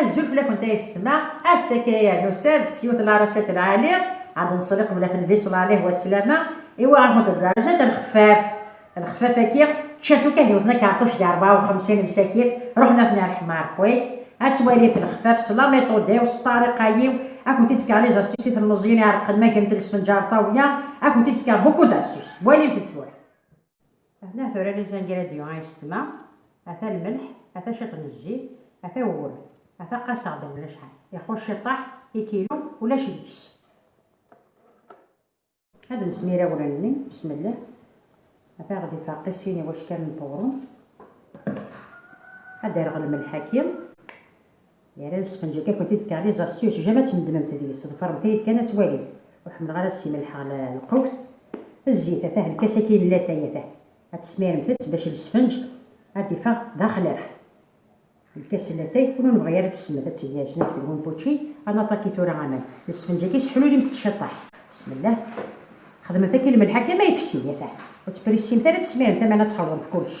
Azul fell-akent a yessetma, ass-a kan ay nusa-d s yiwet larasat n lɛali, ad nṣelli qbel ad tnbi ṣṣlalih wa sslama, i wa ɣer kunt darajat n lxeffaf. Lxeffaf-agi, ččan-t ukan d yiwet n akerṭuc di rebɛa u xemsin msakit, ruḥen ad ten-rḥmer. Wi ad twalimt lxeffaf s lameṭud-iw, s ṭṭariqa-iw, ad kunt-id-fkeɣ les astuces i telmeẓyin iɛerqen ma grent lesfenǧar ṭawla, ad kunt-id-fkeɣ beaucoup d'astuces. Walimt-d tura. Atni tura les ingrédients ay ssetma, ata lmelḥ, ata ciṭ n zzit, ata wwel, ata qqaseɣ d mebla cḥal, ixuc ciṭṭaḥ, ikilu ulac deg-s. Ad nesmir awren-nni, besmellah, ata aɣ-d ifeṛqi sin iwackalen n teɣrumt, ad d-rreɣ lmelḥ aki, Yerra lsefnǧ akka kunt i tkerriz ɣef syuc jama ad tnedmemt deg-s, ḍefremt-iyi-d kan ad twalimt, ur ḥemmleɣ ara ad ssimellḥeɣ lqewt, zzit, atah lkas akka i n latay, atah ad tesmiremt-tt bac lsefnǧ ad d-iffeɣ d axlaf, lkas n latay ur nebɣi ara ad tesmed, ad teg snat deg umpučči, ad naṭaki tura aman, lsefnǧ akka sseḥlulimt-t ciṭṭaḥ, bismillah, xedmemt akka i lmelḥ akka ma yefsi, atah ur ttprissimt ara ad tesmiremt aman ad txelḍemt kullec,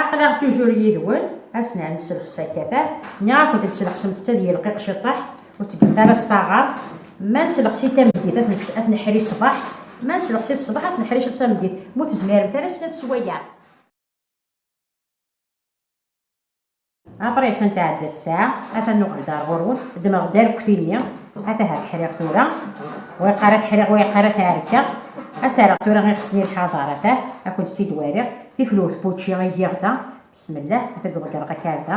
Aql-aɣ tujur yid-wen, a s-nɛen nesselxes akka ta, nniɣ-akent tselxsemt-tt ad yelqiq ciṭṭaḥ, ur ttgemt ara s taɣart, ma neslexsi-t tameddit ad t-neḥri ṣṣbeḥ, ma neslexsi-t ṣṣbeḥ ad t-neḥri ciṭ tameddit, ma ur tezmiremt ara snat s waya. Après kan tɛedda ssaɛa, ata nuɣal-d ar ɣur-wen, ddmeɣ-d arekti-nni, ata ha t-ḥriɣ tura, wa yeqqar ad t-ḥriɣ, wa yeqqar ad t-ɛerkeɣ, ad s-rreɣ tura i ɣesni lḥaḍer, ata a kent-tt-id-wariɣ, tiflewt n wučči i giɣ da, bismillah, ad t-id-ḍeggreɣ akarda.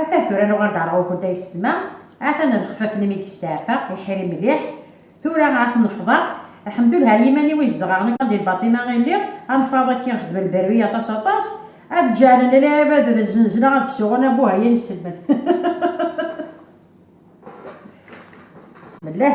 Ata tura nuɣal-d ɣer ɣur-kent a yessetma, atan lexfaf-nni mi yesteɛfa, iḥri mliḥ. Tura ad ten-nefḍer. Lḥemdullah ar yiman-iw i zedɣeɣ nekk di Lbaṭima i lliɣ, a lfaḍ-agi i xedmen berwi aṭas aṭas, ad d-ǧeɛlen lɛibad d lzenzla ad d-suɣen a Buhayya n iselman. Besmellah.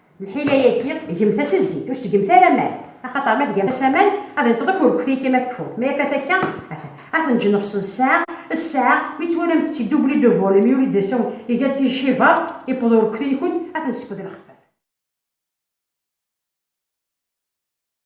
Lḥila-yaki, gemt-as zzit, ur ttgemt ara amal, axaṭer ma tgamt-as amal, ad inṭeḍ akk urkut-yaki ma tekfuḍ, ma yafat akka, ad ten-ǧnefṣen ssaɛa d ssaɛa, mi twalamt-tt-id double de volume, yuli-d d asawen, iga-d tijjibar, iwweḍ urkut-nkent, ad ten-tesskeḍ i lxefaf.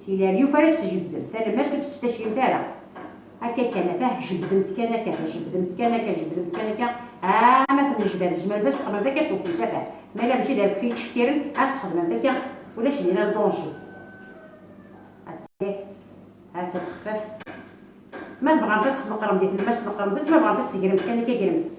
Si leryuf ara tt-tjebbdem, talemmast ur tt-ttacimt ara. Akka kan, atah jebbdemt kan akka, atah jebbdemt kan akka, jebbdemt kan akka, aa ma tennejbad, tzemremt ad txedmemt akka s ufus, atah ma la mačči d arekti yettcekkiren, ad s-txedmemt akka, ulac dinna danger. Attan, attan texfaf. Ma tebɣamt ad tt-tneqqremt di tlemmast, neqqremt-tt, ma tebɣamt ad tt-tegremt kan akka, gremt-tt.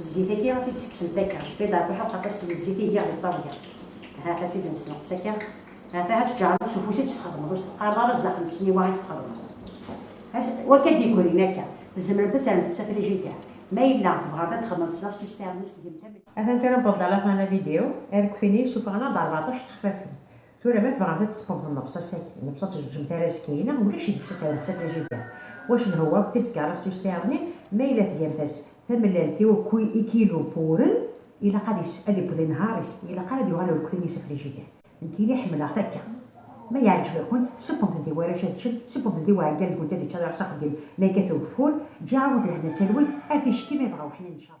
Zzit-agi ad t-id-ssekksen takka, jbed ɣef uḥeq aṭas seg zzit i giɣ di ṭṭabla. Ahat ad tt-id-nessenqes akka? Ahat ad tǧeɛleḍ s ufus i tt-txedmeḍ, ur s-teqqareḍ ara zdax n tesniwa i tt-txedmeḍ. Ass wakka d-yegrin akka, tzemremt ad terremt-t s afrijider, ma yella tebɣamt ad txedmemt kra s tusstarmest, gemt am. Atan kra n ṭṭabla la tɣana video, arekti-nni yessufeɣ-aneɣ-d rbeɛṭac texfafin. Tura ma tebɣamt ad tesqemt nnefṣa-sagi, nnefṣa tejjem tarazkayna, ulac deg-s ad tɛiwed tsatajida. Wac n hwa akk tedka ara s-tusteɛḍnin, ma yella tgamt-as tamellalt i ukwi ikilu puren, ilaq ad is, ad iwwed inehhar-is, ilaq ara ad yuɣal urkli n yisafrijida. Nekkini ḥemmleɣ-t akka. Ma yeɛǧeb-akent, sebbent-d i warrac ad ččen, sebbent-d i uɛeggal deg-went ad ičč ad iruḥ s axeddim ma yekkat ugeffur, ǧǧiɣ-awent lehna d talwit, ar ticki ma yebɣa weḥnin ncab.